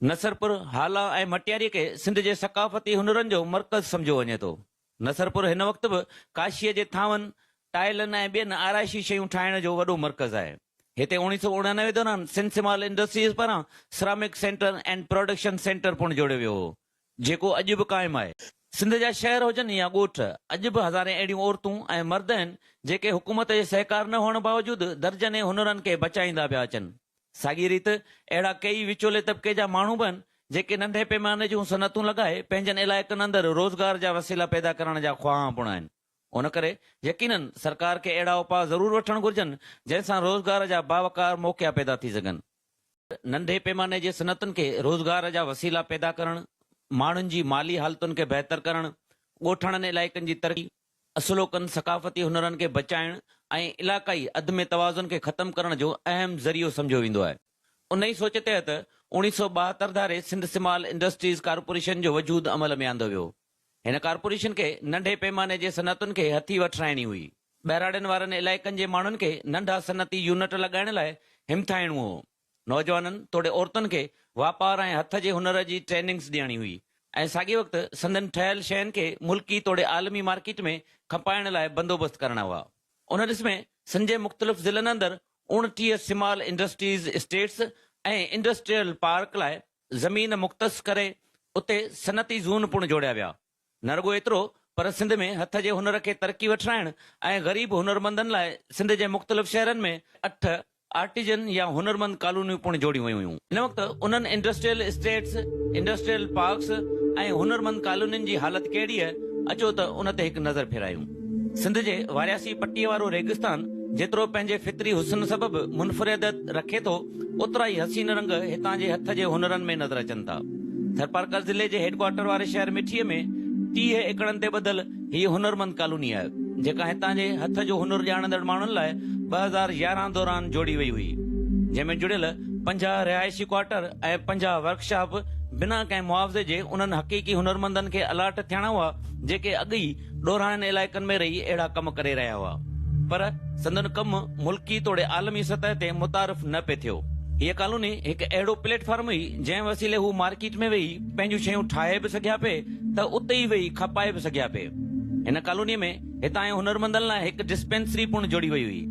نصرپور، هالا ۽ مٽياري کي سنڌ جي ثقافتي هنرن جو مرڪز سمجهيو وڃي ٿو. نصرپور هن وقت به ڪاشيء جي ٿانون، ٽائلن ۽ ٻين آرائشي شيون ٺاهڻ جو وڏو مرڪز آهي. هتي اوڻيهه سؤ اڻانوي دوران سنڌ سمال انڊسٽريز پاران ceramic centre and production centre پڻ جوڙيو ويو هو، جيڪو اڄ به قائم آهي. سنڌ جا شهر هجن يا ڳوٺ، اڄ به هزارين اهڙيون عورتون ۽ مرد آهن، جيڪي حڪومت جي سهڪار نه هئڻ باوجود درجنين هنرن کي بچائيندا پيا اچن. ساڳيء ريت اهڙا ڪيئي وچولي طبقي جا ماڻهو به آهن، جيڪي ننڍي پيماني جون صنعتون لڳائي پنهنجن علائقن اندر روزگار جا وسيلا پيدا ڪرڻ جا خواهان پڻ آهن. ان ڪري يقينن سرڪار کي اهڙا اپاء ضرور وٺڻ گهرجن، جنهن سان روزگار جا باوقار موقعا پيدا ٿي سگهن. ننڍي پيماني جي صنعتن کي روزگار جا وسيلا پيدا ڪرڻ، ماڻهن جي مالي حالتن کي بهتر ڪرڻ، ڳوٺاڻن علائقن جي ترقي، اصلوڪن ثقافتي هنرن کي بچائڻ ۽ علاقائي عدم توازن کي ختم ڪرڻ جو اهم ذريعو سمجهيو ويندو آهي. ان ئي سوچ تحت اوڻيهه سؤ ٻاهتر ڌاري سنڌ سمال انڊسٽريز ڪارپوريشن جو وجود عمل ۾ آندو ويو هو. هن ڪارپوريشن کي ننڍي پيماني جي صنعتن کي هٿي وٺرائڻي هئي. ٻهراڙين وارن علائقن جي ماڻهن کي ننڍا صنعتي يونٽ لڳائڻ لاء همٿائڻو هو. نوجوانن توڙي عورتن کي واپار ۽ هٿ جي هنر جي ٽريننگز ڏيڻي هئي ۽ ساڳئي وقت سندن ٺهيل شين کي ملڪي توڙي عالمي مارڪيٽ ۾ کپائڻ لاء بندوبست ڪرڻا هئا. ان ڏس ۾ سنڌ جي مختلف ضلعن اندر اوڻٽيهه small industries estates ۽ industrial park لاء زمين مختص ڪري اتي صنعتي زون پڻ جوڙيا ويا. نه رڳو ايترو پر سنڌ ۾ هٿ جي هنر کي ترقي وٺرائڻ ۽ غريب هنرمندن لاء سنڌ جي مختلف شهرن ۾ اٺ آرٽيزن يا هنرمند ڪالونيون پڻ جوڙيون ويون هيون. ان وقت انهن انڊسٽريل اسٽيٽس، انڊسٽريل پارڪس ۽ هنرمند ڪالونين جي حالت ڪهڙي هئي اچو ته ان تي هڪ نظر ڦيرايون. سنڌ جي وارياسي پٽي وارو ريگستان جيترو پنهنجي فطري حسن سبب منفريدت رکي ٿو، اوترا ئي حسين رنگ هتان جي هٿ جي هنرن ۾ نظر اچن ٿا. ٿرپارڪر ضلعي جي هيڊڪوارٽر واري شهر مٺي ۾ ٽيهه ايڪڙن تي ٻڌل هيء هنرمند ڪالوني آهي، جيڪا هتان جي هٿ جو هنر ڄاڻندڙ ماڻهن لاء ٻه هزار يارهن دوران جوڙي وئي هئي، جنهن ۾ جڙيل پنجاهه رهائشي ڪوارٽر ۽ پنجاهه ورڪشاپ بنا ڪنهن معاوضي جي انهن حقيقي هنرمندن کي الاٽ ٿيڻا هئا، جيڪي اڳ ئي ڏورانهن علائقن ۾ رهي اهڙا ڪم ڪري رهيا هئا پر سندن ڪم ملڪي توڙي عالمي سطح تي متعارف نه پئي ٿيو. هيء ڪالوني هڪ اهڙو پليٽ فارم هئي جنهن وسيلي هو مارڪيٽ ۾ ويهي پنهنجون شيون ٺاهي به سگهيا پئي ته اتي ئي ويهي کپائي به سگهيا پئي. هن ڪالونيء ۾ هتان جي هنرمندن لاء هڪ ڊسپينسري پڻ جوڙي وئي هئي.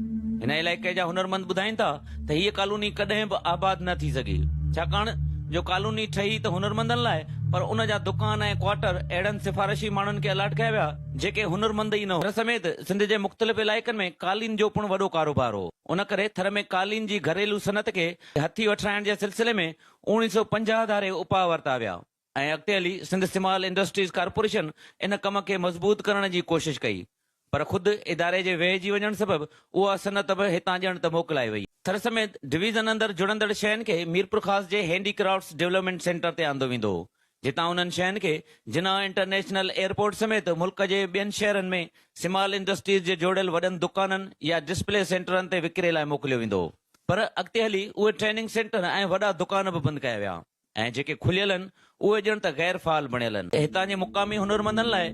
هن علائقي جا هنرمند ٻڌائين ٿا ته هيء ڪالوني ڪڏهن به آباد نه ٿي سگهي، ڇاڪاڻ جو ڪالوني ٺهي ته هنرمندن لاء، پر ان جا دڪان ۽ ڪوارٽر اهڙن سفارشي ماڻهن کي الاٽ ڪيا ويا، جيڪي هنرمند ئي نه هئا. ٿر سميت سنڌ جي مختلف علائقن ۾ قالين جو پڻ وڏو ڪاروبار هو، ان ڪري ٿر ۾ قالين جي گهريلو صنعت کي هٿي وٺرائڻ جي سلسلي ۾ اوڻيهه سؤ پنجاهه ڌاري اپاء ورتا ويا. ۽ اڳتي هلي سنڌ استعمال انڊسٽريز ڪارپوريشن ان ڪم کي مضبوط ڪرڻ جي ڪوشش ڪئي پر خود اداري جي ويهجي وڃڻ سبب اها صنعت به هتان ڄڻ ته موڪلائي وئي. ٿر سميت ڊويزن اندر جڙندڙ شين کي ميرپورخاص جي هينڊي ڪرافٽس ڊولپمينٽ سينٽر تي آندو ويندو هو جتان انهن شين کي جناح انٽرنيشنل ايئرپورٽ سميت ملڪ جي ٻين شهرن ۾ سمال انڊسٽريز جي جوڙيل وڏن دڪانن يا ڊسپلي سينٽرن تي وڪري لاء موڪليو ويندو هو پر اڳتي هلي اهي ٽريننگ سينٽر ۽ وڏا دڪان به بند ڪيا ويا. ۽ جيڪي کليل هن، اهي ڄڻ ته غير فعال بڻيل هن. هتان جي مقامي هنرمندن لاء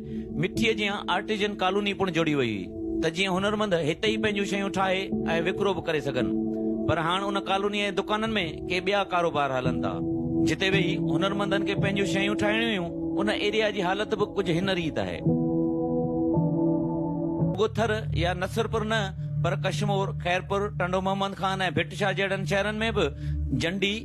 مٺيء جيان آرٽيزن ڪالوني پڻ جوڙي وئي هئي ته جيئن هنرمند هتي ئي پنهنجون شيون ٺاهي ۽ وڪرو به ڪري سگهن پر هاڻ ان ڪالونيء جي دڪانن ۾ ڪي ٻيا ڪاروبار هلن ٿا جتي ويهي هنرمندن کي پنهنجون شيون ٺاهڻيون هيون ان ايريا جي حالت به ڪجهه هن ريت آهي. رڳو ٿر يا نصرپور نه پر ڪشمور، خيرپور، ٽنڊو محمد خان ۽ ڀٽ شاهه جهڙن شهرن ۾ به جنڊي،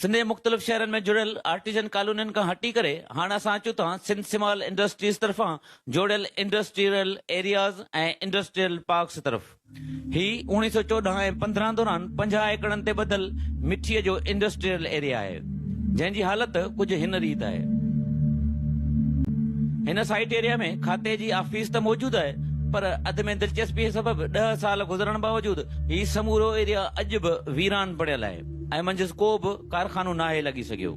سنڌ جي مختلف شهرن ۾ جڙيل آرٽيزن ڪالونين کان هٽي ڪري هاڻ اسان اچون ٿا سنڌ سمال انڊسٽريز طرفان جوڙيل انڊسٽريل ايرياز ۽ انڊسٽريل پارڪس طرف. هي اوڻيهه سؤ چوڏهن ۽ پندرهن دوران پنجاهه ايڪڙن تي ٻڌل مٺيء جو انڊسٽريل ايريا آهي، جنهن جي حالت ڪجهه هن ريت آهي. هن سائيٽ ايريا ۾ کاتي جي آفيس ته موجود آهي پر اڌ ۾ دلچسپيء سبب ڏهه سال گذرڻ باوجود هي سمورو ايريا اڄ به ويران پڙيل آهي. ۽ منجهس ڪو به ڪارخانو ناهي لڳي سگهيو.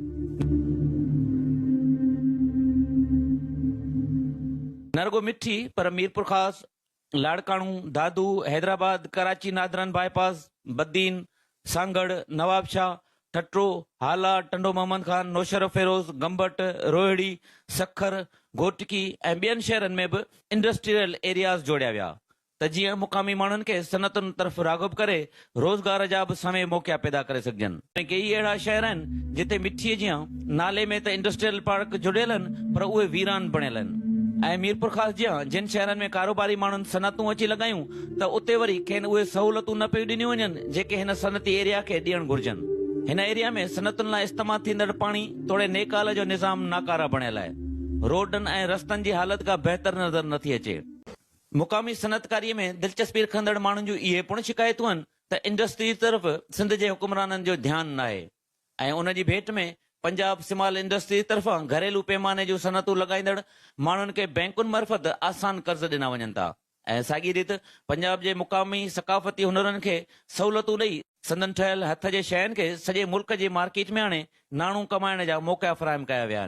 نه رڳو مٺي پر Mirpurkhas, Larkana, Dadu, Hyderabad, Karachi northern bypass, Badin, Sanghar, Nawabshah, Thatta, Hala, Tando Muhammad Khan, Naushahro Feroze, Gambat, Rohri, Sukkur, Ghotki ۽ ٻين شهرن ۾ به انڊسٽريل ايرياز جوڙيا ويا. ته جيئن مقامي ماڻهن کي صنعتن طرف راغب ڪري روزگار جا به سوين موقعا پيدا ڪري سگهجن. ڪيئي اهڙا شهر آهن جتي مٺيء جيان نالي ۾ ته انڊسٽريل پارڪ جڙيل آهن پر اهي ويران بڻيل آهن ۽ ميرپورخاص جيان جن شهرن ۾ ڪاروباري ماڻهن صنعتون اچي لڳايون ته اتي وري کين اهي سهولتون نه پيون ڏنيون وڃن جيڪي هن صنعتي ايريا کي ڏيڻ گهرجن. هن ايريا ۾ صنعتن لاء استعمال ٿيندڙ پاڻي توڙي نيڪال جو نظام ناڪاره بڻيل آهي. روڊن ۽ رستن جي حالت ڪا بهتر نظر نٿي اچي. مقامي صنعتڪاري ۾ دلچسپي رکندڙ ماڻهن جون اهي پڻ شڪايتون آهن ته انڊسٽريز طرف سنڌ جي حڪمرانن جو ڌيان ناهي ۽ ان جي ڀيٽ ۾ پنجاب سمال انڊسٽريز طرفان گهريلو پيماني جون صنعتون لڳائيندڙ ماڻهن کي بئنڪن مرفت آسان قرض ڏنا وڃن ٿا ۽ ساڳي ريت پنجاب جي مقامي ثقافتي هنرن کي سهولتون ڏئي سندن ٺهيل هٿ جي شين کي سڄي ملڪ جي مارڪيٽ ۾ آڻي ناڻو ڪمائڻ جا موقعا فراهم ڪيا ويا آهن.